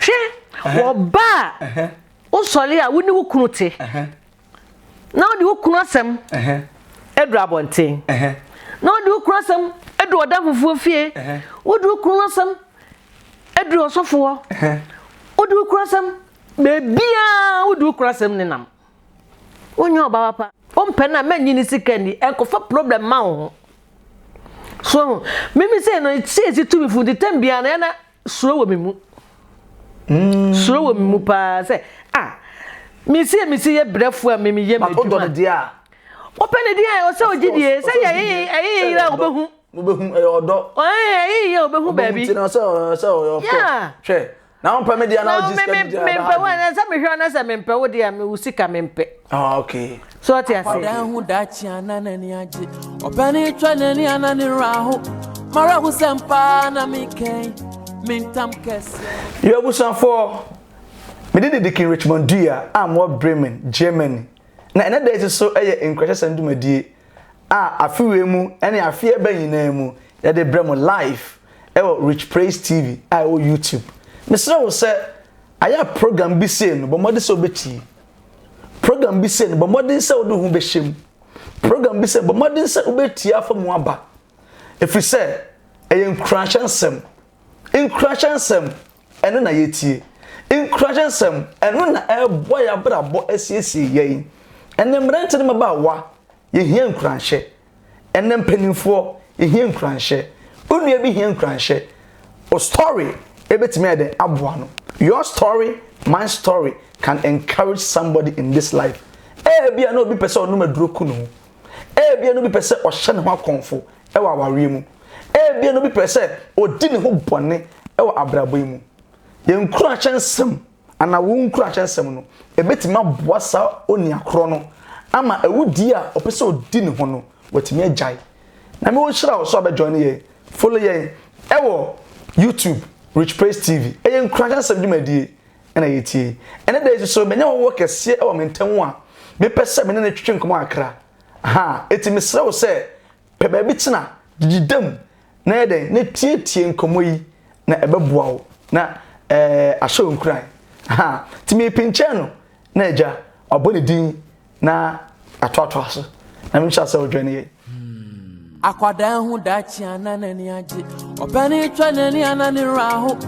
Hwɛ, wɔ ba a wosɔre a wo ne wo kunu te na wode wo kunu asɛm duru abɔnten na wode wo kunu asɛm duru ɔda fufuo fie wode wo kunu asɛm duru ɔsɔfo hɔ wode wo kunu asɛm baabiaa wode wo kunu asɛm nenam wonyɛ ɔba papa wompɛ no a mɛnyi ne sika ni ɛnkɔfa problem ma wo ho so mimi sɛ no ɛsiesie tumi fo nti tam biara no ɛna Suro wɔ me mu. Suro wɔ me mu paa sɛ ah mesi a mesi yɛ brɛfoɔ a mimi yɛ m'adwuma. But odɔ ne deɛ a. Ɔpɛ ne deɛ a ɔsɛ ɔgye die sɛ yɛ ɛyɛ ɛyɛ yɛ a ɔbɛhu. Ɔbɛhu ɛyɛ ɔdɔ. Ɛyɛ ɛyɛ yɛ ɔbɛhu baabi. Ɔbɛhu ti na sɛ ɔsɛ ɔyɛ ɔkɔ. Hwɛ na ɔmpɛ me deɛ na ɔgye sika bi deɛ. Mempɛ wo na sɛ mehwɛ na sɛ mempɛ wo deɛ a me wo sika mempɛ. Ah okay. So ɔte ase? Akwadaa ho daakye a na n'ani agye. Ɔpɛ ne twɛ n'ani a na ne werɛ aho. M'awerɛho sɛ mpa na mekɛn me ntam kɛseɛ. Yo abusuafoɔ, me din de Deacon Richmond Dua a mewɔ Bremen, Germany, na ɛnɛ da yi nso so yɛ Nkuranhyɛsɛm dwumadie a afe wei mu ne afe a ɛba nyinaa mu yɛde brɛ mo live wɔ Rich Praise TV a ɛwɔ YouTube. Mesrɛ wo sɛ ayɛ a program bi sei no bɔ mmɔden sɛ wobɛtie. Program bi sɛ no, bɔ mmɔden sɛ wode wo ho bɛhyɛ mu. Program bi sɛ bɔ mmɔden sɛ wobɛtie afa mu aba. Ɛfiri sɛ, ɛyɛ nkuranhyɛ nsɛm. Nkuranhyɛ nsɛm, ɛno na yɛtie. Nkuranhyɛ nsɛm, ɛno na ɛreboa yɛn abrabɔ asiesie yɛn. Ɛnɛ mmerante ne mmabaawa, yɛhia nkuranhyɛ. Ɛnɛ mpanimfoɔ yɛhia nkuranhyɛ. Wo nua bi hia nkuranhyɛ. Wo story ɛbɛtumi ayɛ dɛn aboa no. Your story, my story can encourage somebody in this life. Ɛbia na obi pɛ sɛ ɔnom aduro ku ne ho. Ɛbia na obi pɛ sɛ ɔhyɛ ne ho akɔmfo wɔ awareɛ mu. Ɛbia na obi pɛ sɛ ɔdi ne ho bɔne wɔ abrabɔ yi mu. Yɛn nkuranhyɛ nsɛm. anaa wɔn nkuranhyɛ nsɛm no, ebetumi aboa saa onua korɔ no ama awudie a ɔpɛ sɛ ɔdi ne ho no, watumi agyae. Nyame ɔnhyira wo sɛ wabɛ join yɛn. Follow yɛn ɛwɔ YouTube, Rich Praise TV. Ɛyɛ nkuranhyɛ nsɛm dwumadie ɛna yɛtie yi. Ɛnɛ da yi nso so, manya ɔwɔ kɛseɛ ɛwɔ me ntam a mepɛ sɛ me ne no twetwe nkɔmmɔ kakra. Ahaa, enti mesrɛ wo sɛ Pɛ baabi tena, didi dam na yɛ dɛn? Na tietie nkɔmmɔ yi na ɛbɛboa wo na ɛɛ ahyɛ wo nkuran. Ha, nti mepenkyɛn no na agya wabɔ ne din na atoatoa so. Na menhyɛ sɛ wodwɛn yɛ. Akwadaa hu daakye a na n'ani agye. Ɔpɛ ne twa n'ani a na ne werɛ aho.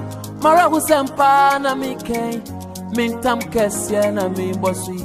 Mara ho sɛm paa na mekɛn. Mentam kɛseɛ na mebɔ so yi.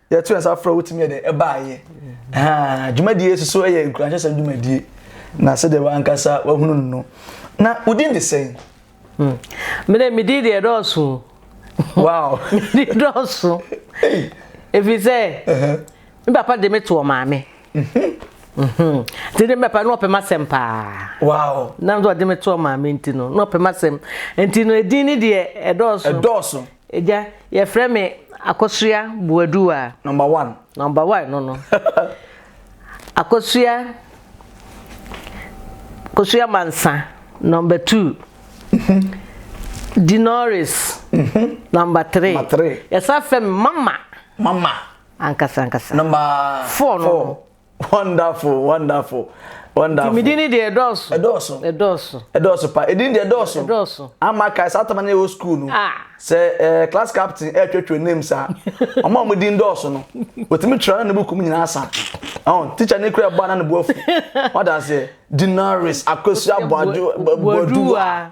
yɛto yɛn nsa frɛ wotumi yɛ dɛ ɛbaayɛ haa dwumadie soso yɛ nkuranhyɛsɛm dwumadie na sɛdeɛ wankasa wahunu no no na wodin de sɛn hmm. mede medin deɛ dɔɔso wow medin dɔɔso ɛfiri sɛ me papa de me toɔ maame mhm. Mhm. nti de mɛpa na ɔpɛm asɛm paa wow na nso ɔde me toɔ maame nti no na ɔpɛm asɛm nti no ɛdin ne deɛ ɛdɔɔso ɛdɔɔso Agya, yɛfrɛ me Akosua Boadu a. Number one. Number one no no. Akosua Kosua Mansa, number two. Dinoris, mm-hmm. number three. Number three. Yɛsa fɛ me mama. Mama. Ankasa ankasa. Number four no. Four. Wonderful, wonderful, wonderful. Nti medin ni deɛ ɛdɔɔso. Ɛdɔɔso. Ɛdɔɔso. Ɛdɔɔso pa. Edin deɛ ɛdɔɔso. Ɛdɔɔso. Ama kae saa tama no yɛ wɔ school no. Ah. Sɛ ɛɛ eh, class captain ɛretwetwe eh, names a, ɔmo a ɔmo din dɔɔso no, otumi twere na ne buku mu nyinaa asa. Ɔn teacher ne kura ɛbɔ ana ne bu afu. Wada aseɛ. Dinaris, Akosia, Boadu, Boaduwa.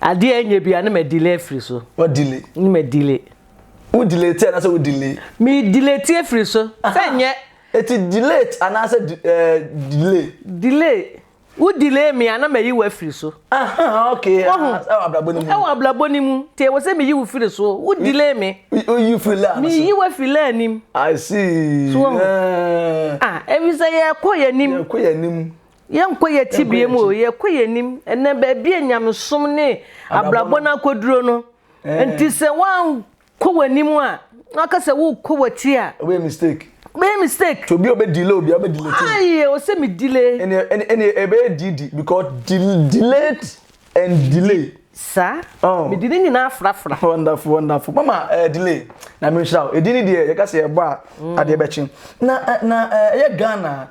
Adeɛ a ɛnyɛ bia na ma delay afiri so. Wa delay. Na ma delay. Wo delay te anaasɛ wo delay? Me delay te afiri so. Sɛ nyɛ. Eti delay anaasɛ eh, delay? Delay. Wo delay me a na ma yi wo afiri so. Aha, okay. Wahu. Ah, ɛwɔ abrabɔ ni mu. Ɛwɔ abrabɔ ni mu. Te ɛwɔ sɛ me yi wo firi so. Wo delay me. O yi firi lane so. Me yi wo firi lane nim. I see. So wahu. Eh. Ah, ebi sɛ yɛ kɔ yɛ nim. Yɛ kɔ yɛ nim. Yɛnkɔ yɛn tebea mu o, yɛkɔ yɛn anim. Ɛnɛ baabi a nyamesom ne abrabɔ no akɔduro no, nti sɛ woankɔ w'anim a, na waka sɛ wokɔ w'akyi a. Wobɛyɛ mistake. Wobɛyɛ mistake. To obi a ɔbɛ delay obi a ɔbɛ delay. Ayi, o sɛ mi delay. Ɛnɛ ɛnɛ ɛbɛyɛ didi because delayed and delay. Sa, oh. mede ne nyinaa afrafra wonderful wonderful mama uh, delay na menhyira wo ɛdi ne deɛ yɛka sɛ yɛbɔ a mm. adeɛ bɛkye na eh, na eh, ɛyɛ ghana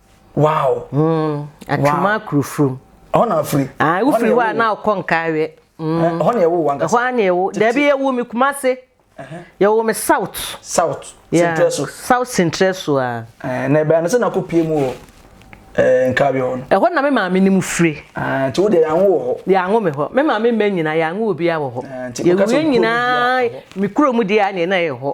wow mm atwuma kurofrom ɛhɔ na afiri ah wofiri hɔ a na ɔkɔ nkaeɛ mm eh, ɛhɔ na ɛwo wa nkasa ɛhɔ ana ɛwo dabi ɛwo mi kuma se yɛwo mi south south central so south central so a eh, na ɛbɛn sɛ na kɔ pie mu wɔ eh, nkaeɛ hɔ no ɛhɔ na me maame ne mu firi ah, nti wo deɛ yɛanwo wɔ hɔ yɛanwo me hɔ me maame mma nyinaa yɛanwo obi a wɔ hɔ yɛwie nyinaa me kuro mu deɛ a na ɛyɛ hɔ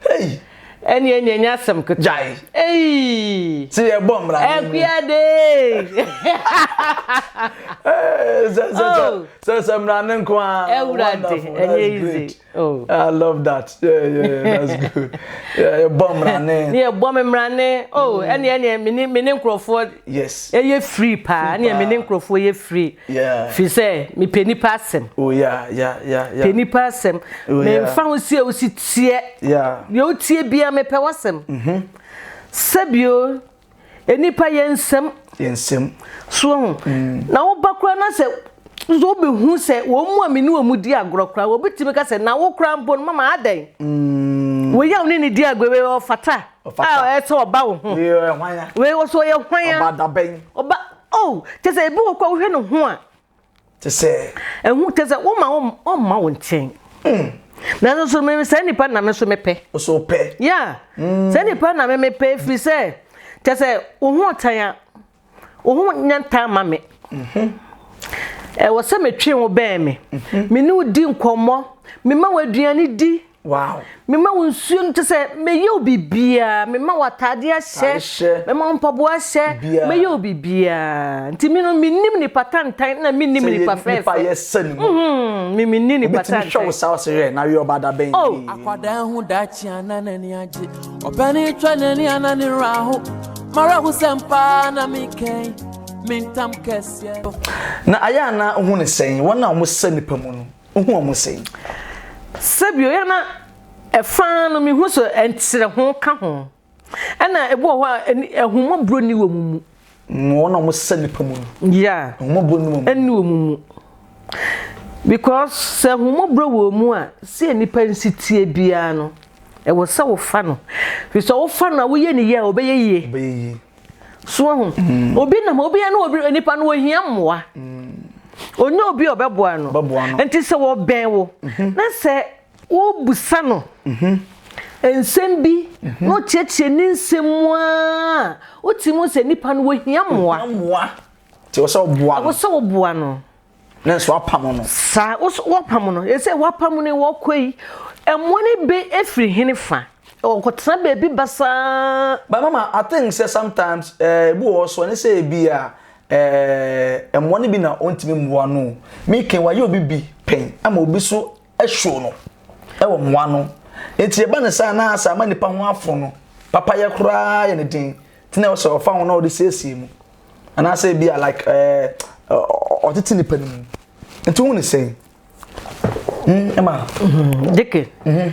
Hey! Ɛne ɛne ɛnyɛ asɛm ketewa. Gyae. Hey! Ti yɛ bɔ mmara. Ɛkuade. Sɛ sɛ sɛ oh. sɛ sɛ mmara ne nko ara. Ɛwurade ɛnyɛ easy. Oh. I love that. Yeah yeah that's good. Yeah ɛbɔ mmara ne. Ne ɛbɔ me mmara ne. Oh mm. ɛne ɛne mene mene nkurɔfoɔ. Yes. Ɛyɛ free paa. Ɛne mene nkurɔfoɔ yɛ free. Firi sɛ mepɛ nnipa asɛm. Oh, yeah, yeah, yeah, yeah. Pɛ nnipa asɛm. Oh, yeah. Memfa ho si a wosi teɛ. Yeah. Deɛ wotie biara mepɛ w'asɛm. Mm-hmm. Sɛbio nnipa yɛ nsɛm. Yɛ nsɛm. So ho. Mm. Na woba koraa na sɛ nso wobɛhu sɛ wɔn mu a me ne wɔn mu di agorɔ koraa wɔbɛtumi ka sɛ na wo koraa mpo no mama adɛn. Mm. Wei a wo ne ne di agorɔ wei ɔfata. Ɔfata. A ɛsɛ ɔba wo ho. Wei ɔyɛ hwan ya. Wei ɔsɛ ɔyɛ hwan ya. Ɔba dabɛn. Ɔba. Oh, kyɛ sɛ ebi wɔ kɔ a wohwɛ ne ho a. Kyɛ sɛ. Ɛho kyɛ sɛ woma wɔn ɔmma wɔn nkyɛn. Mm. Nanso so me saa nipa na me nso mepɛ. Nso pɛ. Yeah. Mm. Saa nipa na me mepɛ firi sɛ kyɛ sɛ wo ho ɔtan a wo ho nyɛ ntan ma me. Mhm. Ɛwɔ sɛ metwe wo bɛn me. Mhm. Me ne wo di nkɔmmɔ. Me ma wo aduane di. Wow. Mema wo nsuo no kyɛ sɛ mɛyɛ wo biribiara mema wo ataadeɛ ahyɛ mema wo mpaboa ahyɛ mɛyɛ wo biribiara nti me no menim nipa tantan na menim nipa fɛɛfɛ mhm, me menni nipa tantan hwɛ wo saa wo sɛ na weyɛ ɔba dabɛn oh. akwadaa ho daakye ana n'ani agye ɔbɛne twa n'ani ana ne werɛ aho mara ho sɛm paa na mekɛn mentam kɛseɛ na ayɛ ana wohu ne sɛn wɔn a wɔsɛ nipa mu no Wohu wɔn sɛn? Sɛbio yɛ na ɛfa no mehu so ɛnkyerɛ ho ka ho ɛna ebi wɔ hɔ a ɛhomɔborɔ ni wɔ mu mu. Wɔn a wɔsɛ nipa mu no. Ya. Ɛhomɔborɔ ni wɔ mu. Ɛni wɔ mu mu. Because sɛ ɛhomɔborɔ wɔ mu a sɛ nipa nsi tie biara no ɛwɔ sɛ wofa no. Fisɛ wofa no a woyɛ ne yie a ɔbɛyɛ yie. Ɔbɛyɛ yie. So wahu? Mm. Obi nam obi ne obi nipa no ohia mmoa. Mm. Onye obi a ɔbɛboa no. Ɔbɛboa no. Nti sɛ wɔbɛn wo mhm. na sɛ wobusa no mhm. nsɛm bi mhm. na ɔkyerɛkyerɛ ne nsɛm mu a wotumi sɛ nipa no ohia mmoa. Ohia mmoa. Nti wɔsɛ ɔboa no. Wɔsɛ ɔboa no. nanso apam no. Saa woso wɔpam no ɛsɛ wɔpam no wɔkɔ yi ɛmoa no bɛ ɛfiri hene fa ɔkɔtena baabi basaa. But mama I think sɛ sometimes eh, ebi wɔ hɔ so ɛne sɛ ebi a eh, ɛmoa no bi na ɔntumi mmoa no o. Meke wayɛ obi bi pɛn ama obi so show no wɔ mo ano. Enti ɛba no saa na sɛ ama nnipa ho afo no, papayɛ koraa yɛ ne den. Nti na ɛwɔ sɛ ɔfa ho na ɔde siesie mu. Anaasɛ ebi a like ɛɛ ɔtete nipa no mu. Nti wohu ne sɛn? Hmm, ɛma. Mhm, Dike. Mhm.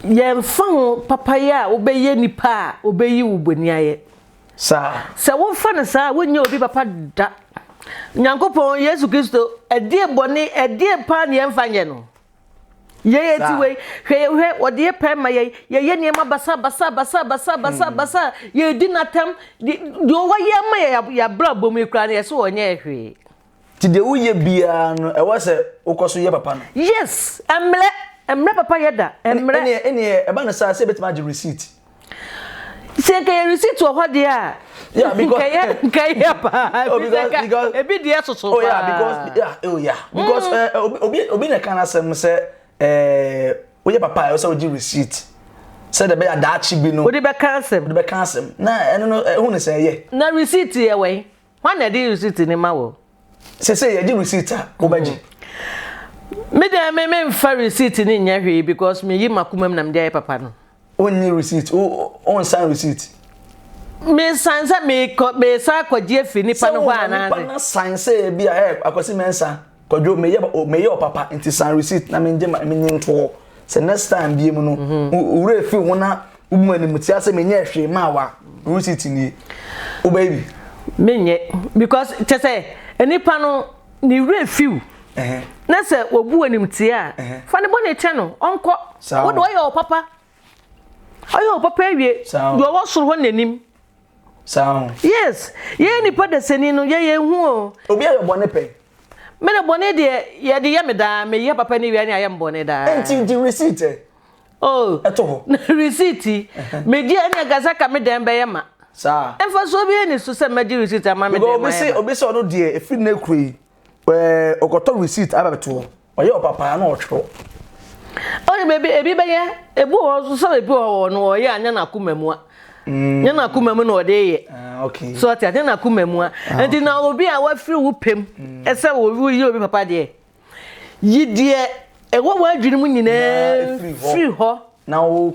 Yɛmfa ho papayɛ a wobɛyɛ nipa a wobɛyi wo bɔni ayɛ. saa. Sɛ wofa no saa a, wonyɛ obi papa da. Nyankopɔn, Yesu Kristo, ɛdeɛ bɔne, ɛdeɛ paa ne yɛmfa nyɛ no? Yɛn eti wei, hwɛ yɛ hwɛ, wɔde yɛ pɛn ma yɛn, yɛyɛ nneɛma basa basa basa basa basa basa, yɛdi n'atam, deɛ wɔyɛ ama yɛ yɛ abrabɔ mu yi koraa no yɛsɛ wɔnyɛ hwee. Ti deɛ woyɛ biara no ɛwɔ sɛ wokɔ so yɛ papa no. Yes ɛmmerɛ ɛmmerɛ papa yɛ da ɛmmerɛ. Ɛneɛ ɛneɛ ɛba no saa sɛ ebɛtumi agye receipt. Sɛ nka yɛ receipt wɔ hɔ deɛ a. Yeah because nka yɛ nka yɛ paa. Oh because because ebi deɛ soso paa. Oh yeah because yeah oh yeah because ɛɛ mm. eh, obi obi na ɛka n'asɛm sɛ ɛɛ eh, woyɛ papa a ɛwɔ sɛ wogye receipt sɛ de bɛyɛ daakye bi no. wode bɛka asɛm. wode bɛka asɛm na ɛno no ɛho ne sɛ ɛyɛ. na receipt yɛ wɛn. Hwan na ɛde receipt no ma wo? Sese yɛgye receipt a, wobɛgye? Me deɛ me memfa receipt no nyɛ hwee because meyi m'akoma mu na mede ayɛ papa no. Wonnye receipt? Wonsan receipt? Mesan sɛ mesan akɔgye afi nipa no hɔ anaasɛ? Sɛ wɔn nipa no san sɛ ebi a, ɛ Akwasi mɛnsa. Kwadwo meyɛ meyɛ ɔpapa nti san receipt na mengye ma menye ntoo sɛ next time bie mu no mhm. wura efi ho na wobu anim tia sɛ menyɛ hwee maa wa receipt nie wobɛyɛ bi. menyɛ because kyɛ sɛ nipa no ne wura efiw na sɛ obu anim tia a fa ne bɔ ne kyɛ no ɔnkɔ wode ɔyɛ ɔpapa ɔyɛ ɔpapa awie deɛ ɔwɔ soro hɔ n'anim. saa ho. yes yɛyɛ nipa dasani no yɛ yɛn ho o. obi ayɛ bɔne pɛn. me de bɔne deɛ yɛde yɛ me daa meyɛ papa ne wia ne ayɛ me bɔne daa. nti gye receipt ɛ. oh ɛto hɔ. receipt megye ɛne ankasa ka me dɛn bɛyɛ ma. saa. mfasoɔ bi ani so sɛ mɛgye receipt ama me dɛn ma yɛ ma. because obi se obi sɛ ɔno deɛ efiri ne kuro yi. ɛɛ ɔkɔtɔ receipt aba bɛto hɔ ɔyɛ ɔpapaa na ɔtwerɛ. ɔyɛ baabi ebi bɛyɛ ebi wɔ hɔ sɛ ebi wɔ hɔ no ɔyɛ anyɛ n'akoma mu a mm. nyɛ n'akoma mu na ɔde yɛ ah, so ɔte anyɛ n'akoma mu a ah, nti na obi a wafiri wo pɛm mm. ɛsɛ wo yɛ obi papa deɛ yi deɛ ɛwɔ wɔn adwene mu nyinaa firi hɔ na wo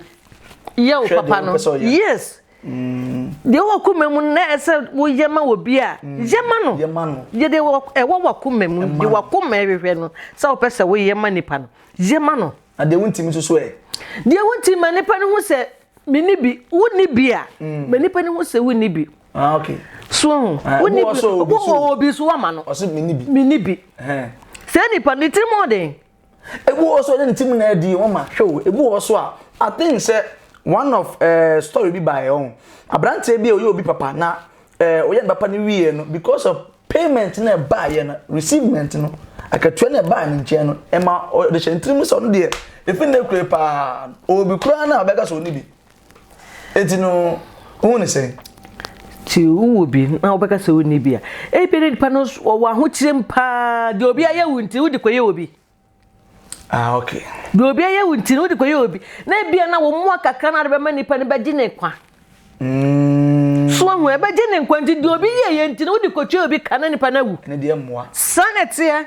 yɛ wo papa no yes Deɛ ɛwɔ w'akoma mu no na ɛsɛ sɛ woyɛ ma obi a, yɛ ma no. Yɛ deɛ ɛwɔ w'akoma mu, deɛ w'akoma ɛhwehwɛ no sɛ wopɛ sɛ woyɛ ma nipa no, yɛ ma no. Na deɛ wontim nso so ɛ? Deɛ wontim ma nipa no ho sɛ menni bi, wonni bi a, mm. ma nipa no ho sɛ wonni bi. Ah, okay. So ho, ah, wonni bi, wowɔ obi so wama no. Ɔsɛ menni bi. Menni bi. Sɛ nipa no tirim ɔden. Ebi wɔ hɔ nso a ɔde ne ti mu na ɛdi wɔn ma hwɛ o. Ebi wɔ hɔ nso a I think sɛ one of ɛɛ story bi baeɛ ɔho. Aberanteɛ bi a ɔyɛ obi papa na ɛɛ ɔyɛ ne papa no wieɛ no because of payment no a ɛbaeɛ no receivement no akatua no a ɛbaa ne nkyɛn no ɛma ɔde hyɛɛ ne tiri mu sɛ ɔno deɛ efi nnɛ kura yi paa obi koraa no a ɔbɛka sɛ ɔnni bi Enti no, wohu no sɛn? Ti wowɔ bi na wobɛka sɛ wonni bi a, ebi ne nipa no ɔwɔ ahokyerem paa. Deɛ obi ayɛ wo nti, wode kɔyɛ obi. Ah, okay. Deɛ obi ayɛ wo nti, wode kɔyɛ obi. Na ebia na wɔn mmoa kakra na de bɛma nipa no bɛgye ne kwa. Mm. So ahu ɛbɛgye ne nkwa nti deɛ obi yɛ yɛ nti no wode kɔtwa obi ka na nipa no awu. Ne deɛ mmoa. Saa na ɛteɛ.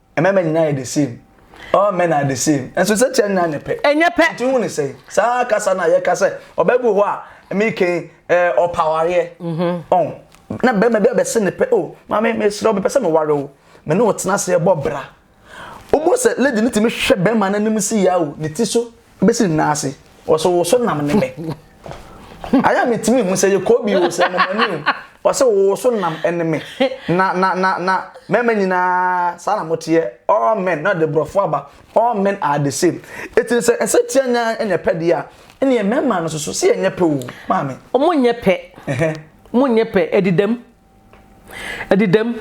Mmarima nyinaa yɛ the same. All men are the same. Nso sɛ kyɛ nyinaa ne pɛ. Ɛnyɛ pɛ. Nti hu ne sɛ saa kasa no a yɛka sɛ ɔbɛbu hɔ a meken eh, ɔpawareɛ. Mhm. Ɔn, na bɛrima bi abɛse ne pɛ, o, oh, maame mesrɛ wo mepɛ sɛ meware wo. Me ne wo tena ase bɔ bra. Wobɔ sɛ lady no tumi hwɛ bɛrima no anim si ya o, ne ti so. bɛsi ne nan ase ɔsɛ wo so nam ne me ayɛ a metumi hu sɛ yɛkɔ bi o sɛ mamani o ɔsɛ wo so nam ne me na na na na mɛma nyinaa saa na moteɛ all men na ɔde borɔfo aba all men are the same ɛti no sɛ ɛsɛ tia nya ɛnyɛ pɛ deɛ a ɛneɛ mɛma no soso sɛ ɛnyɛ pɛ o maame ɔmo nyɛ pɛ mo nyɛ pɛ ɛdidam Ɛde dɛm.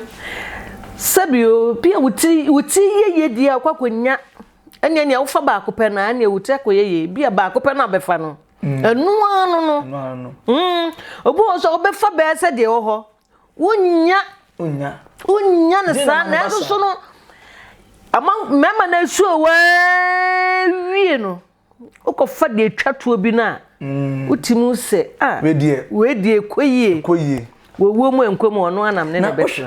Sɛbio, bi a wo ti, wo ti yɛ yie deɛ wokɔ akɔnya, ɛneɛ nea wofa baako pɛ no a, ɛneɛ wo ti akɔyɛ yie. Bi a baako pɛ no a bɛfa no, ɛno ara no no. Ɛno ara no. Mm, obi wɔ hɔ nso a, wobɛfa bɛyɛ sɛ deɛ ɛwɔ hɔ. Wonnya. Wonnya. Wonnya no saa, nanso so no, ama mmarima no asuo a wɔawie no. Wokɔfa deɛ ɛtwa toɔ bi no a, wotim hu sɛ, ah, wei deɛ ɛkɔ yie. Wɔwuo mu ɛnkɔ mu ɔno anam ne na ɛbɛtra.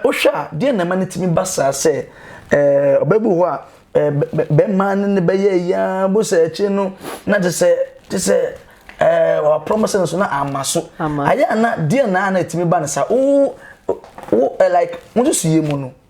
Wohwɛ a, deɛ na ɛma no tumi ba saa sɛ ɔbɛ bi wɔ hɔ a, bɛrima ne no bɛyɛ ayi ara, bohu sɛ akyire no na te sɛ, te sɛ waprɔm sɛ no so na amma so. Ayɛ a na deɛ na a na ɛtumi ba no saa. Wo, wo, like, wo nsusuiɛ mu no,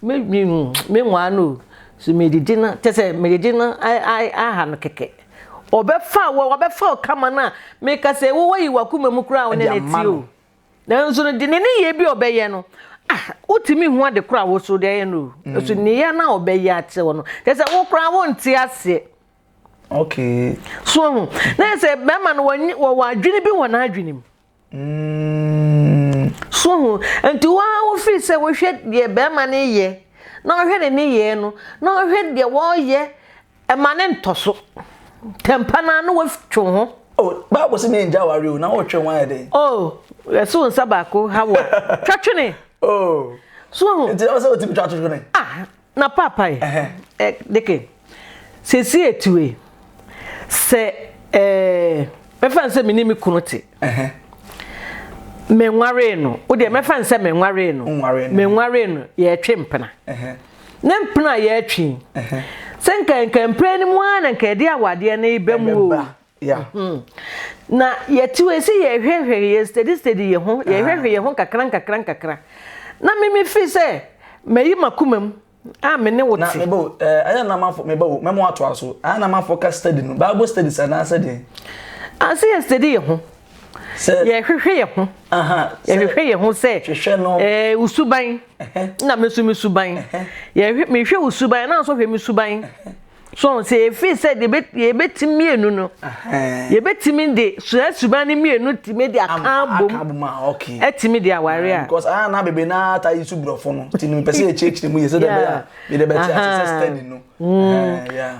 Me me me nwaa no o. So medidi no kyɛ sɛ medidi no aha no kɛkɛ. Ɔbɛfa wo ɔbɛfa wo kama no a meka sɛ wo wayi w'akoma mu koraa a wo ne no te o. Nanso no de ne nneyɛɛ bi a ɔbɛyɛ no ah wotumi hu ade koraa a wo so de ayɛ no o. So nneyɛɛ no a ɔbɛyɛ akyerɛ wo no kyɛ sɛ wo koraa wonte aseɛ. Okay. So ho na yɛ sɛ bɛrima no wɔwɔ adwene bi wɔ n'adwene mu. So ho? Nti wo ara wofiri sɛ wohwɛ deɛ barima no reyɛ na wohwɛ ne nneyɛɛ no na wohwɛ deɛ wɔreyɛ ma ne ntɔso. Tɛmpa no ara na woatwe wo ho. Oh, Bible se me ngya aware o, na wotwe wo ho ayɛ dɛn? Oh, yɛse wo nsa baako ha wo a, twa twene. Oh. So ho? Nti ɛwɔ sɛ wotumi twa twene? Ah. Na paapae ɛ deke seesei ɛtu e sɛ ɛ mɛfa no sɛ me ne me kunu te menwaree no wo deɛ mɛfa no sɛ menwaree no menwaree no yɛtwe mpena ne mpena a yɛtwe sɛ nka nka mpena no mu ara na nka ɛde awadeɛ no ba mu o Yeah. Mm-hmm. Na yɛte wei sɛ yɛhwɛhwɛ yɛ steady steady yɛ ho yɛhwɛhwɛ yɛ ho kakra nkakra nkakra na mimi fi sɛ mayi makoma mu a me ne wo te. na mebɔ ɛɛ ɛyɛ na mafo mebɔ wo mɛmo ato aso ɛyɛ na mafo ka steady no bible steady sɛ na sɛ deɛ. ase yɛ steady yɛ ho. sɛ yɛhwehwɛ yɛ ho. yɛhwehwɛ yɛ ho sɛ hwehwɛ no ɛɛ usuban na mesu mesuban yɛhwɛ mehwɛ usuban na nso hwɛ mesuban. So wɔn sɛ efi sɛ deɛ yɛbɛti mmienu no yɛbɛtumi de saa suban no mmienu tumi de aka abom ɛtumi de aware a. because ah na bebree na ata yi so borɔfo no ti no mpɛ sɛ yɛkyerɛkyerɛ mu yɛ sɛ dɛbɛ a yɛde bɛte ase sɛ study no.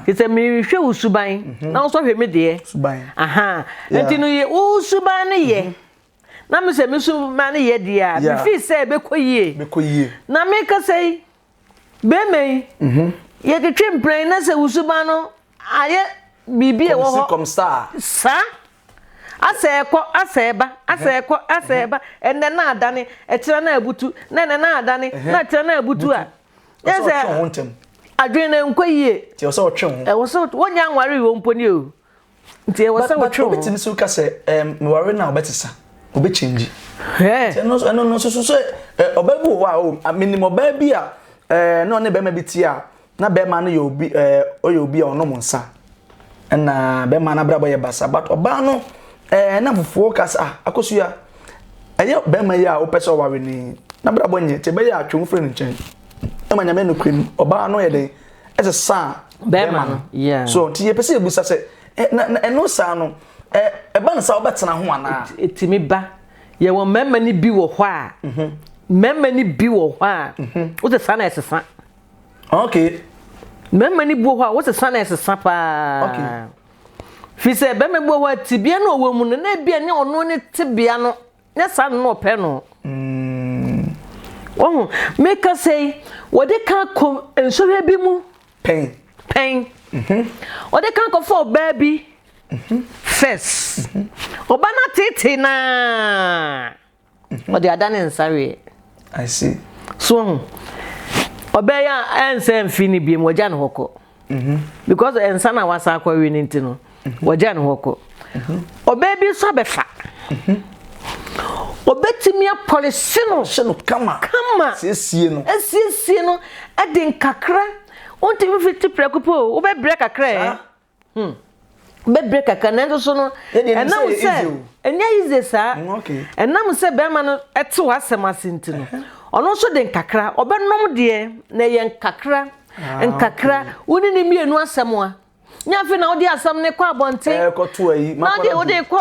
te sɛ mehwɛ wo suban mhm. na wo nso hwɛ me deɛ. suban aha nti no yɛ wo suban no yɛ. Mhm. na me sɛ me suban no yɛ deɛ a mefi sɛ ɛbɛkɔ yie. bɛkɔ yie. na mekasa yi. Bɛrima yi, mhm. yɛtwetwe mprɛn na sɛ wo suban no ayɛ biribi a ɛwɔ hɔ saa asɛ ɛkɔ asɛ ɛba asɛ ɛkɔ asɛ ɛba ɛnɛ na adane ɛkyerɛ na abutu na ɛnɛ na adane na ɛkyerɛ na abutu a yɛsɛ adwene na nkɔ yie ɛwɔ sɛ wɔnyɛ anware wɔ mpo ni o Nti ɛwɔ sɛ wotwe wo ho. Obetumi so ka sɛ ɛɛm meware na ɔbɛsesa obɛkyɛngyi. Ɛno ɛno no soso sɛ ɔbaa bi wɔ hɔ a o menim ɔbaa bi a ɛɛ na ɔne bɛrima bi te a na bɛrima no yɛ obi ɛɛ ɔyɛ obi a ɔnom nsa ɛna bɛrima no abrabɔ yɛ basa but ɔbaa no ɛɛ na fufuo ka sɛ ah akosua ɛyɛ bɛrima yi a wopɛ sɛ ɔware ni n'abrabɔ nyɛ te bɛyɛ atwe wo firi ne nkyɛn ɛma nyame nokorɛ mu ɔbaa no yɛ dɛn ɛsɛ sa bɛrima no so nti yɛpɛ sɛ yɛbusa sɛ ɛno saa no ɛba no saa wobɛtena ho anaa ɛtumi ba yɛwɔ mmarima no bi wɔ hɔ a mhm. mmarima no bi wɔ hɔ a mhm. wosɛ saa na ɛsesa okay mmarima no bi wɔ hɔ a wosɛ saa na ɛsesa paa okay fi sɛ bɛrima bi wɔ hɔ a tibea no ɔwɔ mu no na ebia ne ɔno ne tibea no Nyɛ saa no na ɔpɛ no. Wahu, mekasa yi, wɔde ka kɔ nsɔhwɛ bi mu. Pɛn. Pɛn. Mhm. Wɔde ka kɔfa ɔbaa bi. Mhm. First. Mhm. Ɔba no ateetee naa. Ɔde ada ne nsa weɛ. I see. So ɔbɛyɛ a ɛnsɛ mfi no biam wɔgya no hɔ kɔ. mhm. because nsa na wasa akɔ awie no nti no mhm. wɔgya ne hɔ kɔ mhm. ɔbaa bi nso abɛfa ɔbɛtumi apɔlese no hyɛ no kama kama siesie no asiesie no ɛde nkakra wontumi fiti prɛko pɛ o wobɛbrɛ kakra ɛ hmm. bɛbrɛ kakra nanso so no ɛnam sɛ ɛnyɛ yize saa ɛnam mm, sɛ bɛrima no ɛte hɔ asɛm ase nti no ɔno nso de nkakra ɔbɛnom deɛ na ɛyɛ nkakra ah, nkakra wo ne ne mmienu asɛm a nyɛ afei na wode asɛm ne kɔ abɔnten na wode wode kɔ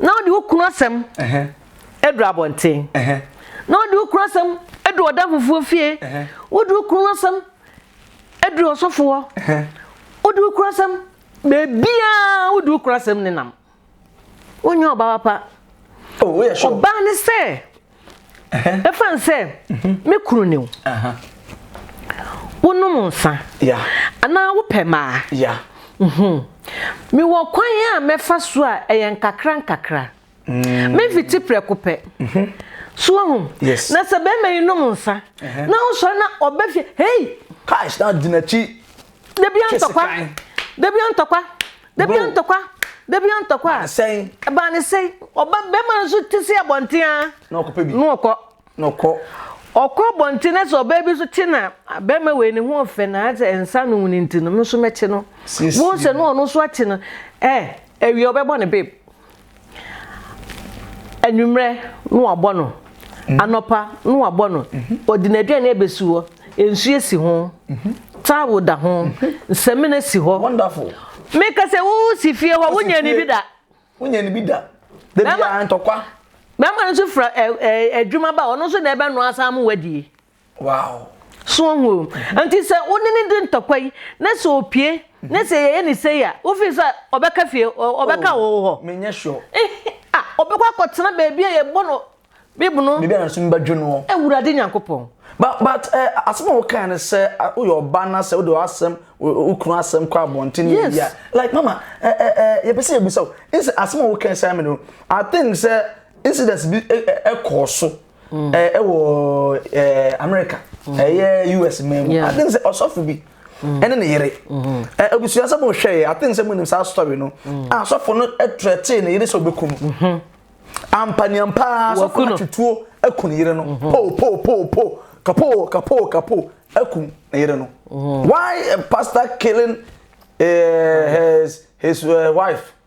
na wode wo kunu asɛm adu abɔnten na wode wo kunu asɛm adu ɔda fufuo fie wode wo kunu asɛm adu ɔsɔfoɔ wode wo kunu asɛm baabiaa wode wo kunu asɛm ne nam wonyɛ ɔbaa papa ɔbaa ne sɛ ɛfane sɛ me kunu ne wo wonom nsa anaa wopɛ maa mewɔ kwan a mɛfa so a ɛyɛ nkakra nkakra mm. mefiti prɛko pɛ mhm. so ahu na sɛ bɛrima yi nom nsa na wosɔre na ɔbɛ fie hei cash na di n'akyi dabi antɔkwa dabi antɔkwa Da bi ntɔkwa, da bi ntɔkwa. Baa ne sɛn? Baa ne sɛn? Ɔba bɛrima no nso te sɛ abɔnten a. Na ɔkɔpɛ bi. Na ɔkɔ. Na ɔkɔ. Ɔkɔ abɔnten na sɛ ɔbaa bi nso te na bɛrima wei ne ho ɔfɛ na sɛ nsa no mu ne nti no, me nso mɛte no. Wɔn sɛ no ɔno nso ate no. Ɛ ɛwia ɔbɛbɔ ne babe. anwummerɛ na wabɔ no mm-hmm. anɔpa na wabɔ no mm-hmm. ɔde n'aduane abɛsi hɔ nsuo si ho mm-hmm. towel da ho nsɛmina si hɔ meka sɛ wosi fie hɔ wonya ne bi da wonya ne bi da bɛma ntɔkwa bɛma no nso fira adwuma ba ɔno nso na ɛbɛnoa saa mo wadie Wow! So wohu? Nti sɛ wo ne no di ntɔkwa yi, na sɛ opue, na sɛ yɛyɛ no sei a, wo feel sɛ ɔbɛka fie, ɔbɛka wo hɔ? Menyɛ sure. Ah, ɔbɛkɔ akɔtena baabi a yɛbɔ no bib no. Baabi a n'asom bɛdwo no. Awurade Nyankopɔn. But, but, eh, asɛm a wokae no sɛ woyɛ ɔba na sɛ wode w'asɛm, wo kunu asɛm kɔ abɔnten ne biribi a, like, mama, eh, eh, eh, yɛpɛ sɛ yɛbisa wo, nsɛ asɛm a wokae sɛ amene no, I think sɛ incidents bi ɛkɔɔ so. ɛwɔ amerika ɛyɛ us man mu aten sɛ ɔsɔfo bi ɛne ne yere abusua sɛ mohwɛɛ aten sɛ monim saa story no a asɔfo no trɛtee ne yere sɛ ɔbɛku no ampaniampaa sɔfo no twituo aku ne yere no po po po po kapo kapo kapo aku ne yere no why a pastor killing uh, his, his uh, wife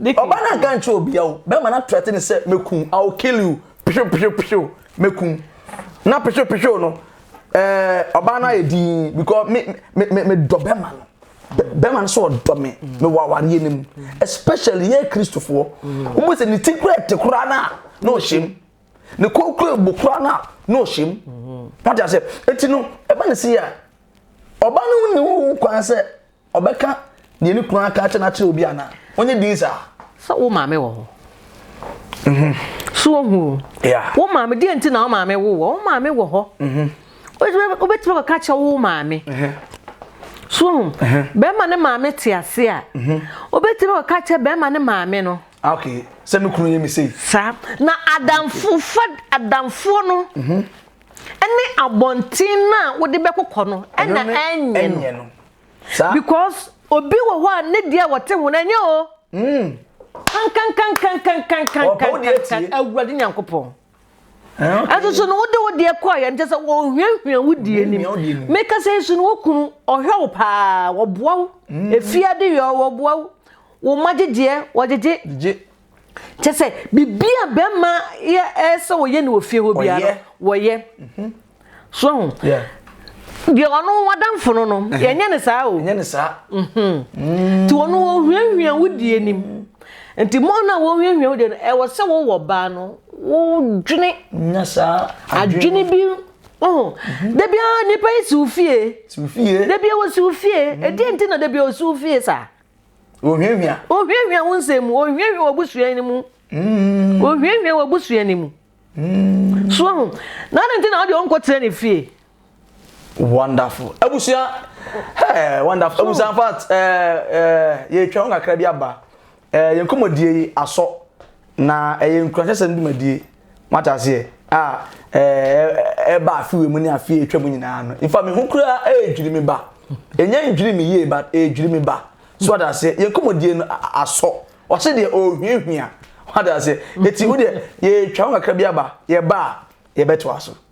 Ɔbaa no anka nkyerɛ obia o, bɛrima no atrɛte ne sɛ mɛku, I will kill you, pehyew pehyew pehyew, mɛku. Na pehyew pehyew no, ɛɛ ɔbaa no ayɛ din because me me me me dɔ bɛrima no. Bɛrima no sɛ ɔdɔ me, me wɔ awareɛ no mu. Especially yɛ Kristofoɔ, wɔn sɛ ne ti kura ɛte koraa no a, na ɔhyɛ mu. Ne kɔn kura ebu koraa no a, na ɔhyɛ mu. Wate aseɛ? Eti no, ɛba ne se a, ɔbaa no nni ho kwan sɛ Ɔbɛka deɛ ne kunu aka akyɛ no akyerɛ obi anaa? Ɔnyɛ din saa. Sɛ wo maame wɔ hɔ. Mhm. So wohu? Yeah. Wo maame deɛ nti na wo maame wo wɔ? Wo maame wɔ hɔ. Mhm. Wobɛtumi kɔka kyɛ wo maame. Mhm. So wohu? Mhm. Bɛrima ne maame te ase a. Mhm. Wobɛtumi kɔka kyɛ bɛrima ne maame no. Ah, okay. Sɛ me kunu yɛ me sei. Saa. Na adamfo fa adamfoɔ no. Mhm. Ɛne abɔnten no a wode bɛkokɔ no ɛna ɛnyɛ no. Saa. Because obi wɔ hɔ a ne deɛ a ɔte ho no ɛnyɛ o. Kankankankankankankankankan Awurade Nyankopɔn. Ɛnso so no wode wo deɛ kɔɔ yɛn kyɛ sɛ wɔhwiahwia wo deɛ nim. Meka sɛ nso no wo kunu ɔhwɛ wo paa wɔboa wo. Efiade yɛ wɔboa wo. Wo mma gyegyeɛ wɔgyegye. kyɛ sɛ biribi a bɛrima yɛ ɛyɛ sɛ wɔyɛ no wɔ fie hɔ biara no wɔyɛ mhm. so ho deɛ ɔno wadamfo no no yɛnyɛ ne saa o ɛnyɛ ne saa mhm. mm. nti ɔno wɔhuahua wo die nim nti mo no a wɔhuahua wo die no ɛwɔ sɛ wowɔ baa no wodwene adwene bi Oh, mhm. da biara nipa yi si wo fie da biara wɔsi wo fie ɛdeɛ nti na da biara wɔsi wo fie saa Ohiahia. Ohiahia wo nsɛm mu, ohiahia w'abusua no mu. Mm. Ohiahia w'abusua no mu. Mm. So ho, na ade nti na ɔde ɔnkɔ tena ne fie. Wonderful. Abusua, hey, wonderful. Abusua, in fact, eh, eh, yɛtwa ho kakra bi aba. Eh, yɛn nkɔmmɔdie yi asɔ, na ɛyɛ nkuranhyɛsɛm dwumadie. Moate aseɛ? A ɛɛ ɛba afewe mu ne afeɛ atwa mu nyinaa no. Nfa me ho koraa ɛredwiri me ba. Ɛnyɛ ndwiri me yie but ɛredwiri me ba. So ɔde aseɛ? Yɛn kɔmɔdie no asɔ. Ɔse deɛ ɔrehuahua. Ɔde aseɛ? Ɛti wo deɛ yɛtwa ho kakra bi aba. Yɛba a yɛbɛtoa so.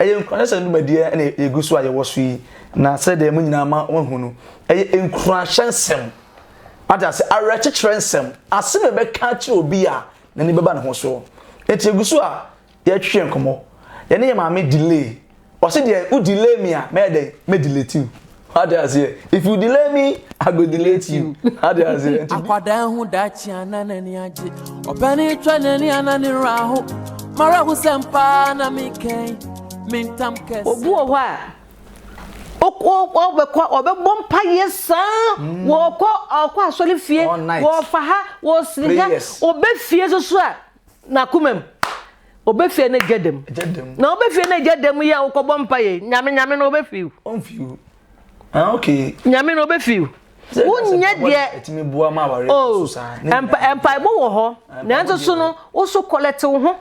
Ɛyɛ nkuranhyɛ ne dwumadie a ɛna ɛgu so a yɛwɔ so yi na sɛdeɛ mo nyinaa ma wɔahu no ɛyɛ nkuranhyɛ nsɛm ate ase awerɛkyekyerɛ nsɛm asɛm a ɛbɛka akyerɛ obi a n'ani bɛba ne ho soɔ nti yɛgu so a yɛtwe nkɔmmɔ yɛne yɛ maame delay ɔse deɛ wo delay me a mɛyɛ dɛn mɛdeletiw Wate aseɛ? If you delay me, I go delay to you. Wate aseɛ? Nti Akwadaa ehu daakye a na n'ani agye. Ɔpɛni twɛ n'ani a na ne werɛ aho. M'awerɛhosɛm paa na mekɛn me ntam kɛse. Obi wɔ hɔ a, ɔbɛkɔ, ɔbɛbɔ mpaeɛ saa, ɔkɔ ɔkɔ asɔrefie, ɔfa ha, ɔsere ha, ɔba fie nso so a, n'akoma mu. Obefie ne gya dam. Gya dam. Na obefie ne gya dam yi a wokɔbɔ mpa yɛ nyame nyame na obefiw. Onfiw. Ah okay. Nyame na obefiw. Wonyɛ deɛ. Ɛtumi boa ma aware oh, so saa. Mpa mpaebɔ wɔ hɔ. Nanso so no wo so kɔlɛte wo ho.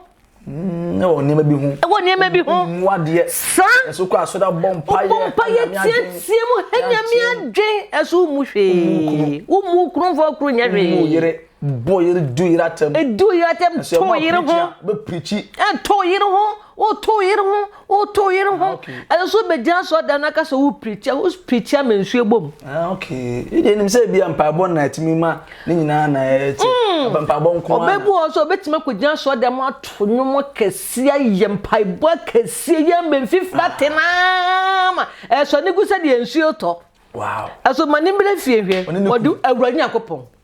Mm, ɛwɔ nneɛma bi ho. Ɛwɔ nneɛma bi ho. Mu adeɛ. Sa. Ɛso kɔ asɔre abɔ mpaeɛ. Ɔbɔ mpaeɛ tiatia mu hɛ nyame adwen ɛso mu hwee. Wo mu kurumfoɔ kuru nyɛ hwee. Wo mu yere. Bɔ yere du yere atɛm. Edu yere atɛm to yere ho. Bɛ pirikyi. To yere ho woto yere ho woto yere ho. Ɛsɛ sɛ wobɛgyina asɔre dan no aka sɛ wo pirikyia wo pirikyia ma nsuo bom. Okay ɛdeɛ nim sɛ ebi a mpaebɔ na ɛtumi ma ne nyinaa na ɛte ɛbɛ mpaebɔ nko ara. Ɔbɛbu hɔ sɛ ɔbɛtumi akɔgyina asɔre dan mu ato nnwom kɛseɛ ayɛ mpaebɔ akɛseɛ yɛ mbɛ mfifira te naa ma ɛsɔ ne gu sɛdeɛ nsuo tɔ. Wow. Ɛso ma ne mmerɛ fie hwɛ ɔde awurade nyankopɔn.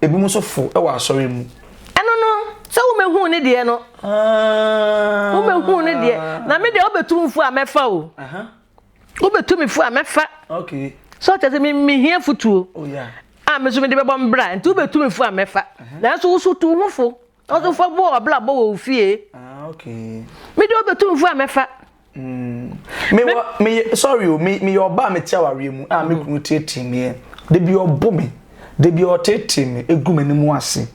Ebinom nso fo wɔ asɔre mu. Ɛno no, sɛ wobɛhuu ne deɛ no. Wobɛhuu ne deɛ. Na me deɛ wobɛtu me fo a mɛfa o. Wobɛtu me fo a mɛfa. So ɔkyɛ sɛ mehia fotuo. Oh, a me nso mede bɛbɔ mbra. Nti wobɛtu me fo a mɛfa. Nanso wo so tu wo ho fo. Ɔsomfoɔ bɔɔ w'abrabɔ wɔ wo fie. Ah okay. Me deɛ ɔbɛtu mfo a mɛfa. Mm. Me, me, me, me sorry o, me, me yɛ ɔbaa me te awareɛ mu a me kunu tietie meɛ. Da bi ɔbo me, da bi ɔtetee me egu m'anim ase.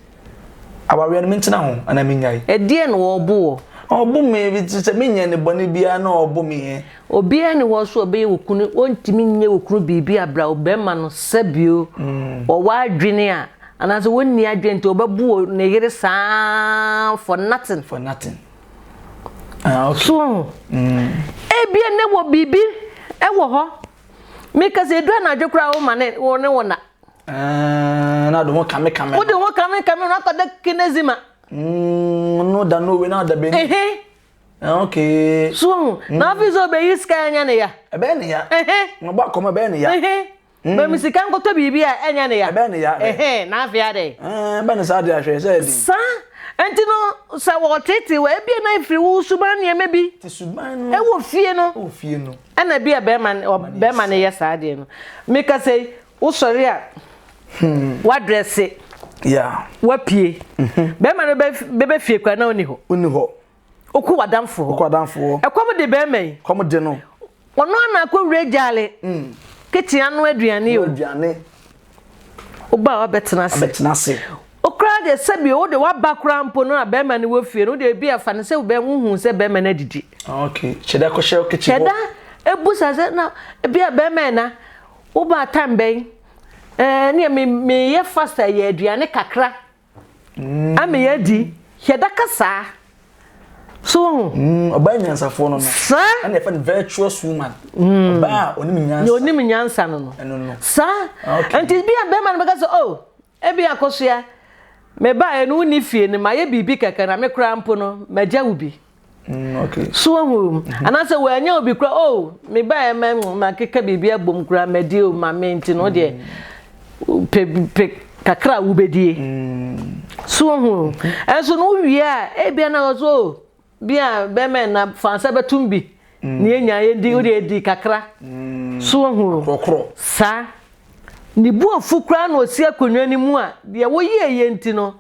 Awareɛ no mentena ho anaa menyae? Ɛdeɛ na ɔbo wɔ? Ɔbo me, sɛ menyɛ ne bɔne biara na ɔbo me ɛ. Obiara ne hɔ so ɔbɛyɛ wo kunu, ɔntumi nyɛ wo kunu biribi abra wo bɛrima no sɛbio ɔwɔ adwene a Anaasɛ wonni adwene nti ɔbɛbu ne yere saa for nothing. For nothing. Ah, okay. So, mm. ebia ne wɔ biribi ɛwɔ hɔ. Meka sɛ edu anadwo koraa wo ma ne wo ne wo na. Ah, na de ho kame kame. Wo de ho kame kame na akɔda kinezima. Mm, no da no we na da bɛni. Ehe. Ah, okay. So, mm. na afei sɛ ɔbɛyi sika anya ne ya. Ɛbɛyɛ ne ya. Ehe. Ɔbɔ akɔmɔ ɛbɛyɛ ne ya. Ehe. Ma me sika nkɔtɔ biribi a ɛnyɛ ne ya. Ɛbɛyɛ ne ya dɛ. Ɛhɛn, na afei ara dɛn? Ɛɛn, bɛ ne saa adeɛ ahwɛ, sɛ ɛden. Saa nti no, sɛ wɔreteetee wo a, ebia na ɛfiri wo suban nneɛma bi. Te suban no. Ɛwɔ fie no. Ɛwɔ fie no. Ɛna ebia bɛrima no, bɛrima no yɛ saa adeɛ no. Mekasa yi, wosɔre a, woadrɛse. Yeah. Woapue. Bɛrima no bɛba fie koraa na ɔnni hɔ. Ɔnni hɔ. Ɔku w'adamfoɔ. Ɔku w'adamfoɔ. Ɛkɔm de bɛrima yi. Ɛkɔm de no. Ɔno ara na akɔwura gyaale. Mm. Kitchen ano aduane o. Ano aduane. Woba a wabɛtena ase. Abɛtena ase. Okura deɛ sɛbi wo de waba koraa mpo no a bɛrima no wɔ fie no deɛ ebi afa no sɛ wobɛn wohu sɛ bɛrima no adidi. Ah, okay. Kyɛda kɔhyɛ wo kitchen hɔ. Kyɛda ebu sa sɛ na ebi a bɛrima na woba time bɛn. Ɛɛ eh, ne me meyɛ fast yɛ aduane kakra. ama yɛadi hwɛ da kasaa so wohu mm, ɔbaa nyansafoɔ no no saa ɛna yɛfɛ no virtuous woman mm. ɔbaa a ɔnim nyansa ɔnim nyansa no no ɛno no saa ah, nti bi a bɛrima no bɛka sɛ oh ebi akɔsoa meba ɛno wonni fie no mayɛ biribi kɛkɛ na me koraa mpo no magya wo bi Mm, okay. So wahu mm -hmm. anaasɛ wanya obi kora o oh, mebaeɛ ma makeka biribi abom kora madi o ma me nti no deɛ pɛ kakra a wobɛdie so wahu ɛnso no wowie a ebia na ɔso o oh, bi a bɛma na fa sɛ bɛtom bi ne yɛnya yɛdi wode adi kakra so wahu saa ne buafu koraa na ɔsi akonnwa no mu a deɛ woyɛɛyɛ nti no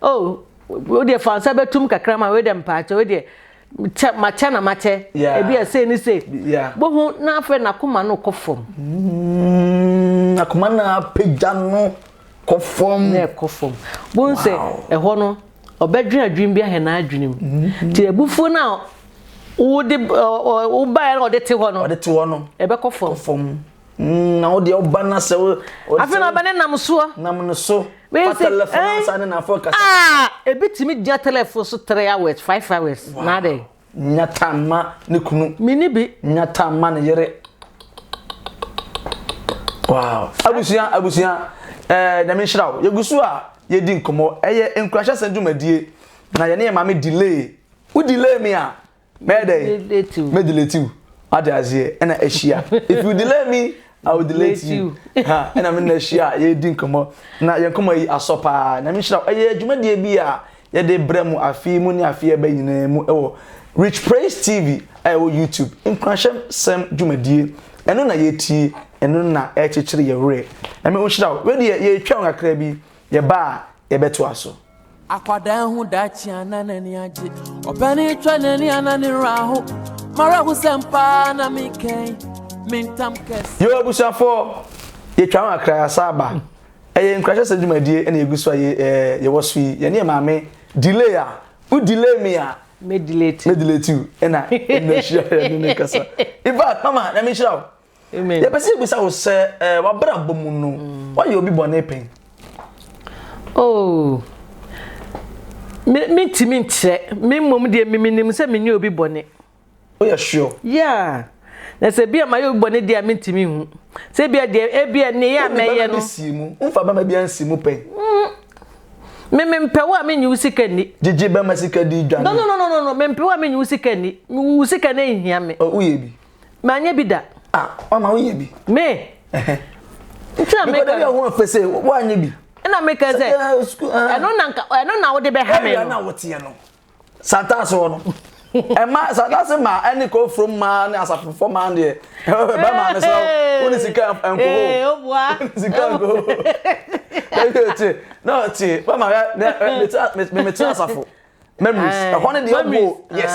o oh, Wodeɛ fa nsa bɛtum kakra ma wodeɛ mpaakyɛ wodeɛ kyɛ makyɛ na makyɛ ebi a sei ne sei bohu na afei n'akoma no kɔ fam mm, akoma no apagya no kɔ fam na ɛkɔ fam bohu sɛ ɛhɔ no ɔbɛdwen adwene bi ahɛ n'adwene mu mm-hmm. nti abufuo no a wode wobaeɛ na ɔde te hɔ no ɔde te hɔ no ɛbɛkɔ fam Mm, na wodeɛ woba no sɛ afei na ɔbɛne nam soɔ nam no so fa telefon eh? ansa ne nafoɔ kasa ah, ebi tumi gyina telefon so three hours five hours na adɛn nyata mma ne kunu mene bi nyata mma ne yere wow abusua abusua ɛɛ eh, nyame nhyira wo yɛgu so a yɛdi nkɔmmɔ ɛyɛ nkurahyɛsɛm dwumadie na yɛne yɛ maame delay wo delay me a mɛyɛ dɛn mɛ delete you ade aseɛ ɛna ahyia if you delay me i will delay you ha ɛna me na ahyia yɛdi nkɔmmɔ na yɛn nkɔmmɔ yi asɔ paa na mehyira ɛyɛ adwumadie bi a yɛde brɛ mu afei mu ne afei ɛbɛ nyinaa mu ɛwɔ rich praise tv a ɛwɔ youtube nkuranhyɛm sɛm dwumadie ɛno na yɛtie ɛno na ɛkyekyere yɛ werɛ ɛmɛ wo hyira wo wedeɛ yɛtwa wo kakra bi yɛba a yɛbɛtoa so Akwadaa hu daakye a na n'ani agye. Ɔpanin twa n'ani a na ne werɛ aho. M'awerɛhosɛm paa na mekɛn me ntam kɛse. Yo abusuafo, yɛtwa ho akra yɛasan aba. Ɛyɛ nkuranhyɛsɛm dwumadie na yɛgu so a yɛwɔ so yi. Yɛne yɛn maame delay a, wo delay me a, me delay you na ɛnna ahyia yɛne no kasa. In fact, mama, Nyame nhyira wo. Amen. Yɛpɛ sɛ yɛbisa wo sɛ eh, w'abrabɔ mu no woayɛ obi bɔne pɛn? Oh, me mentumi nkyerɛ me mmom deɛ memenim sɛ menyɛ obi bɔne. Woyɛ sure? Yeah. Na sɛ bi a mayɛ obi bɔne deɛ a mentumi nhu. Sɛ bi a deɛ ebi a ne yɛ a mɛyɛ no. Si mu. Womfa bɛma bi ansi mu pɛn. Mm. Me mempɛ wo a menyi wo sika nni. Gyegye bɛma sika di dwane. No no no no no mempɛ wo a menyi wo sika nni. Wo sika no nhia me. Oh, woyɛ bi. Manyɛ bi da. Ah, wama wonyɛ bi. Me? Ɛhɛ. Nti na meka. Mekɔda bi a ho afɛ sɛ woanyɛ bi. Ɛna meka sɛ, ɛno na nka ɛno na wode bɛha me no. Ɛna na woteɛ no. Santaase hɔ no. Ɛma santaase ma ɛne kofuro ma ne asafofo ma deɛ. Ɛbɛ ma ne sɛ wo ne sika nkoho. Ee, o boa. Sika nkoho. Ɛyɛ tie. Na tie, bɛ ma me me me me asafo. memories ɛhɔ ne deɛ ɔbɔ yes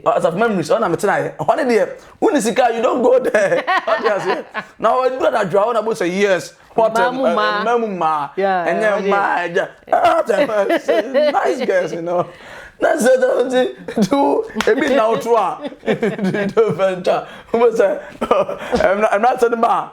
asafo ah, memories ɔna mete na yɛ ɛhɔ ne deɛ wone sika you don go there ɔde aseɛ na ɔdura na adwuma hɔ na bɔ sɛ yes hotel mmaa mu mmaa ɛnyɛ mmaa ɛgya ɛhɔ nice girls you know na sɛ sɛ ɔti tu ebi na ɔto a do fɛntwa wɔn sɛ ɛmira sɛ ne ba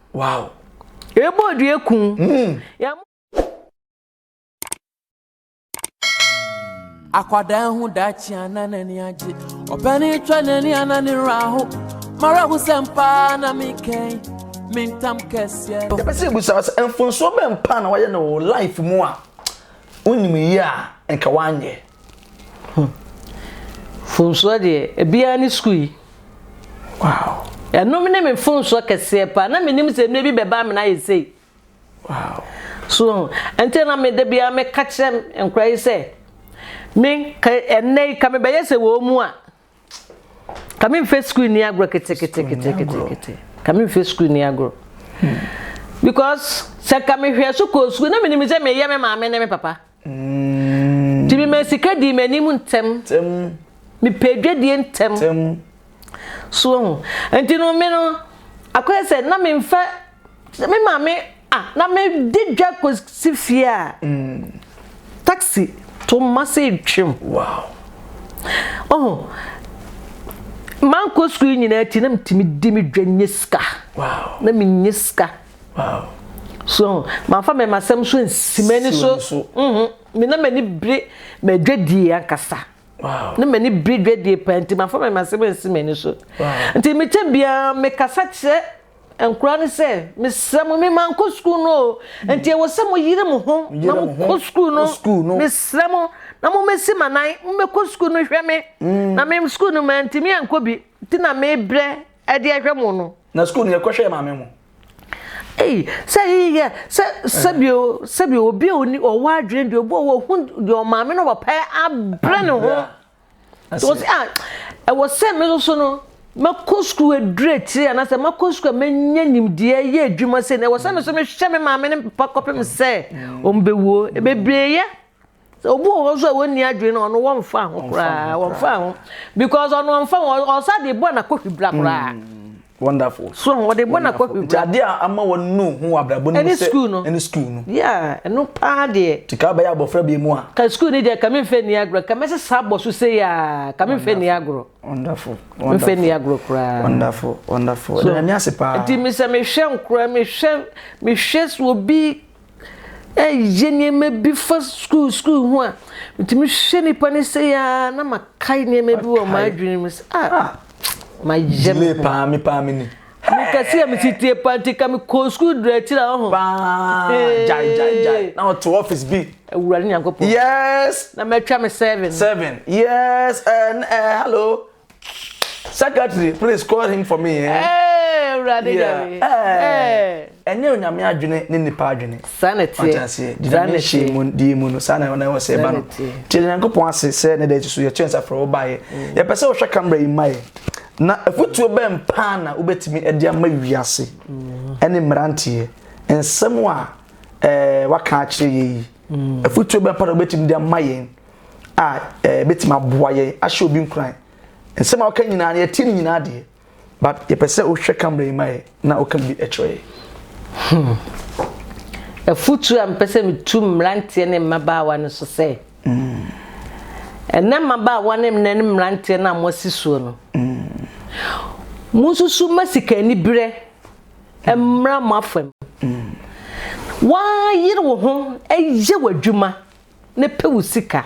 Wow. Ebo odue ku. Mm. Akwadaa ehu daakye ana n'ani agye ɔpɛni twɛ n'ani ana ne wura ho mara ho sɛ mpaa na mekɛn me ntam kɛseɛ. yɛpɛ sɛ yɛbusa wo sɛ mfonsoɔ bɛn paa na wayɛ no wɔ life mu a wonim yie a nka woanyɛ Hmm. Fonsoɔ deɛ, ebiara ne sukuu yi. Wow. Ɛnom ne me fonsoɔ kɛseɛ paa. Na menim sɛ nnuro bi bɛba amena ayɛ sei. Wow. So ho. Ɛnti na me da biara meka kyerɛ nkora yi sɛ, me ka ɛnɛ yi ka mebɛyɛ sɛ wɔn mu a. ka me nfɛ sukuu ni agorɔ keteketekete ka me nfɛ sukuu ni agorɔ because sɛ ka me hwɛ so kɔɔ sukuu na menim sɛ meyɛ me maame ne me papa mm. nti mema sika dii m'anim ntɛm mepɛ adwadie ntɛm so ho nti no me no akɔyɛ sɛ na memfa Sɛ me maame a na medi dwa kosi fie a, taxi to mma sɛ etwam. Oho, mankɔ sukuu nyinaa nti na metumi di me dwa nya sika. Na minya sika. So mamfa me masɛm so ansi m'ani so. Me na m'ani bere m'adwadie ankasa. Na m'ani bere dwadie paa nti mamfa me masɛm ansi m'ani so. Nti mekyɛ biara mekasa kyerɛ Nkura ne sɛ mesrɛ mo mema nkɔ sukuu no o nti ɛwɔ sɛ mo yere mo ho na mo kɔ sukuu no mesrɛ mo na mo mɛsi ma nan mo mɛkɔ sukuu no hwɛ me mm. na me sukuu no ma ntumi ankɔ bi ti na mebrɛ ɛde ɛhwɛ mo no. na sukuu no yɛkɔ hwɛ maame mo. Ei, sɛ yiyɛ sɛ sɛbi o sɛbi obi a ɔwɔ adwene deɛ obi a ɔwɔ ho deɛ ɔmaame na ɔpapa abrɛ ne ho. nti wɔ sɛ a ɛwɔ sɛ me nso no mɛkɔ sukuu aduru akyire anaasɛ mɛkɔ sukuu a mɛnya nimdeɛ yɛ adwuma sɛ na ɛwɔ sɛ me nso mehwɛ me maame ne me papa kɔpem sɛ ɔmbɛwuo ɛbɛbieeɛ sɛ obi wɔ hɔ nso a wɔnni adwene no ɔno wɔmfa ho koraa wɔmfa ho because ɔno ɔmfa ho ɔsa de bɔ anakɔhwi bra koraa mm. wonderful so wɔde bɔ na kɔhwɛ nti adeɛ a ama wɔn no hu wɔ abrabɔ no mu sɛ ɛne sukuu no yeah ɛno paa deɛ nti ka bɛyɛ abɔfra bi mu a ka sukuu no deɛ ka me mfɛ ni agorɔ ka mɛsɛ saa bɔ so sɛ yɛ ka me mfɛ ni agorɔ wonderful mfɛ ni agorɔ koraa wonderful wonderful so ɛna mi ase paa nti mesɛ mehwɛ nkora mehwɛ mehwɛ so obi Ɛyɛ nneɛma bi fa sukuu sukuu ho a metumi hwɛ nnipa no sɛ yɛ ara na makae nneɛma bi wɔ m'adwene mu sɛ ah, ah. mayɛ me ho paa me paa me ni mekɛse a metetie paa nti ka mekɔɔ sukuu dura akyiri a ɔho na ɔto office bi awurade nyankopɔn yes na matwa me seven seven yes uh, uh, hello secretary please call him for me eh. Hey, awurade nyame ɛnyɛ onyame adwene ne nipa adwene ɔtaseɛ gyina ne hyɛ mu die mu no saa na ɛwɔ sɛ ɛba no kyerɛ nyankopɔn ase sɛ ne da akyi so yɛkyerɛ nsa frɛ wo baeɛ mm. yɛpɛ sɛ wohwɛ kamera yi ma yɛ na afotuo bɛn paa na wobɛtumi de ama wiase mm. ɛne mmeranteɛ nsɛm a eh, waka akyerɛ yɛ yi mm. afotuo bɛn paa na wobɛtumi de ama yɛn a ɛbɛtumi aboa yɛn ahyɛ obi nkuran nsɛm a ɔka nyinaa no yɛtie ne nyinaa deɛ but yɛpɛ sɛ wohwɛ camera yi ma yɛ na woka bi kyerɛ yɛ hmm. afutuo a mpɛ sɛ metu mmeranteɛ ne mmabaawa no so sɛ hmm. ɛnɛ mmabaawa ne nnɛ ne mmeranteɛ no a moasi soɔ no hmm. monsusu ma sika aniberɛ mmra mo afam hmm. woayere wo ho ɛyɛ w'adwuma na pɛ wo sika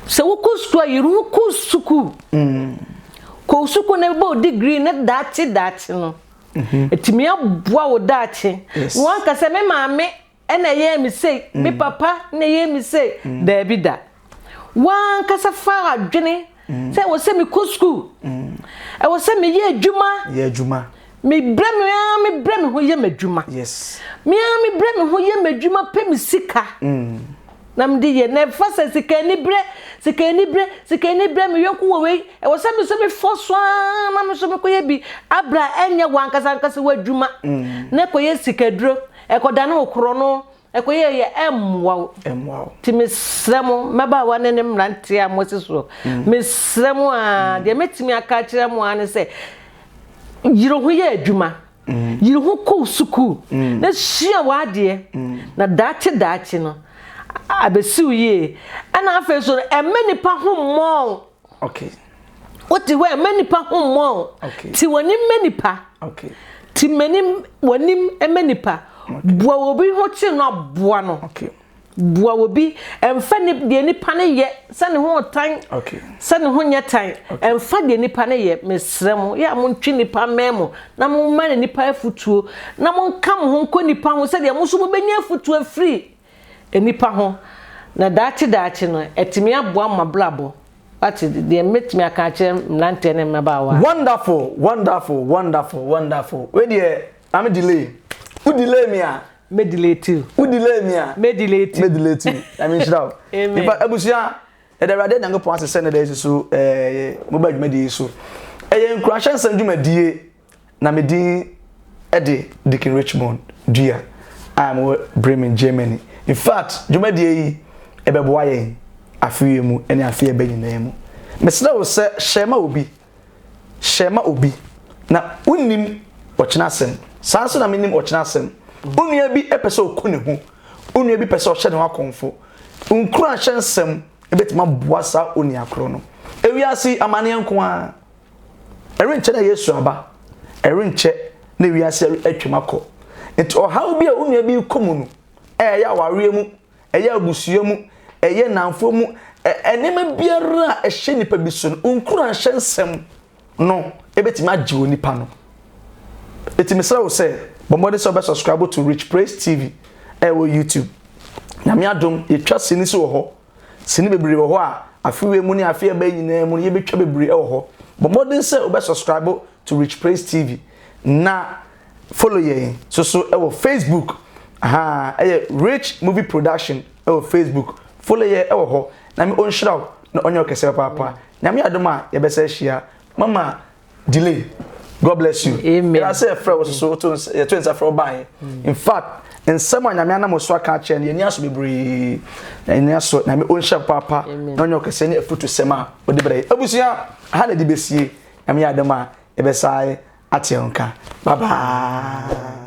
sɛ wokɔ sukuu a yere wokɔ sukuu kɔ sukuu na bɛbɔ degree ne daakye daakye no ɛtumi mhm. aboa wo daakye na wanka sɛ me maame ɛna ɛyɛɛ me sei me mm. papa na ɛyɛɛ me sei mm. daabi da wankasa fa adwene mm. sɛ ɛwɔ sɛ mekɔ sukuu mm. ɛwɔ sɛ meyɛ adwuma yɛ adwuma mebrɛ me ara mebrɛ me ho yɛ m'adwuma me ara mebrɛ me ho yɛ m'adwuma pɛ me sika mm. na mede yɛ na ɛfa sɛ sika ani berɛ sika ani berɛ sika ani berɛ meyɔnko wɔ wei ɛwɔ sɛ me so mefɔ so ara na me so mekɔyɛ bi abra ɛnyɛ wankasa ankasa w'adwuma na ɛkɔyɛ sikaduro ɛkɔda ne wo korɔ no Ɛkɔ yie yɛ ɛmmoa wo. Ɛmmoa wo. Nti mesrɛ mo, mmabaawa ne ne mmeranteɛ a mote soɔ, mesrɛ mo aa, deɛ mɛtumi aka akyerɛ mo aa ne sɛ, yere ho yɛ adwuma, yere ho kɔ sukuu na sua w'adeɛ, na daakye daakye no, abɛsi wo yie. Ɛna afei nso no, ɛmmɛ nnipa ho mmɔ wo. Okay. What the way menipa ho mo. Okay. Ti wani menipa. Okay. Ti meni wani menipa. Okay. Bua obi ho chi no abua no. Okay. Bua obi emfa ni de nipa ne ye se ne ho tan. Okay. Se ne ho nye tan. Okay. Emfa de nipa ne ye mesrɛ mo. Ya mo ntwi nipa memo na mo ma ne nipa afutuo. Na mo nka mo ho nko nipa ho se de mo so mo benya afutuo free. nnipa ho, na daakye daakye no, atumi aboa mo abrabɔ. Wate? Deɛ mɛtumi aka akyerɛ mmeranteɛ ne mmabaawa. Wonderful, wonderful, wonderful, wonderful. Wei deɛ, maame delay. Wo delay me a. Mɛ delay to you. Wo delay me a. Mɛ delay to you. Mɛ delay to you. Nyame nhyira wo. Amen. Nipa abusua, yɛde Awurade Nyankopɔn ase sɛ ne da yi so ɛɛ mo ba dwumadie yi so. Ɛyɛ nkurahyɛ nsɛm dwumadie Na me din de Deacon Richmond Dua a mewɔ Bremen, Germany. In fact, dwumadie yi ɛbɛboa yɛn afe yi mu ne afe a ɛbɛ nyinaa mu. Mesrɛ wo sɛ hyɛ ma obi, hyɛ ma obi. Na wonim ɔkyena asɛm. Saa nso na menim ɔkyena asɛm. Wo nua bi pɛ sɛ ɔku ne ho. Wo nua bi pɛ sɛ ɔhyɛ ne ho akɔmfo. Nkuranhyɛ nsɛm bɛtumi aboa saa onua korɔ no. Ewiase yi, amanneɛ nko ara. Ɛrenkyɛ na Yesu aba. Ɛrenkyɛ na wiase atwam akɔ. Nti ɔhaw bi a wo nua bi rekɔ mu no, ɛyɛ awareɛ mu, ɛyɛ abusua mu, ɛyɛ nnamfoɔ mu, nneɛma biara a ɛhyɛ nipa bi so no, wo nkuranhyɛ nsɛm no ɛbɛtumi agye onipa no. Ɛti mesrɛ wo sɛ, bɔ mmɔden sɛ wobɛ subscribe to Rich Praise TV ɛwɔ YouTube. Nyame adom, yɛtwa sini so wɔ hɔ Sini bebree wɔ hɔ a afe wei mu ne afe a ɛba yi nyinaa mu no yɛbɛtwa bebree wɔ hɔ. Bɔ mmɔden sɛ wobɛ subscribe to Rich Praise TV na follow yɛn so so wɔ Facebook ahaa ɛyɛ Rich Movie Production wɔ Facebook follow yɛ wɔ hɔ Nyame ɔnhyira wo na ɔnyɛ wo kɛseɛ papaapa Nyame adom a yɛbɛsa ahyia mama delay god bless you ɛna sɛ yɛfrɛ wo soso yɛto nsa frɛ wo baeɛ mm. in fact nsɛm a nyame anam so aka akyerɛ no yɛni aso bebree na yɛni aso nyame ɔnhyɛ paapa na ɔnyɛ ɔkɛsɛ ne afutu sɛm a ɔde brɛ abusua ha na ɛde bɛsie nyame yɛ adom a ɛbɛsae ateɛ nka bye bye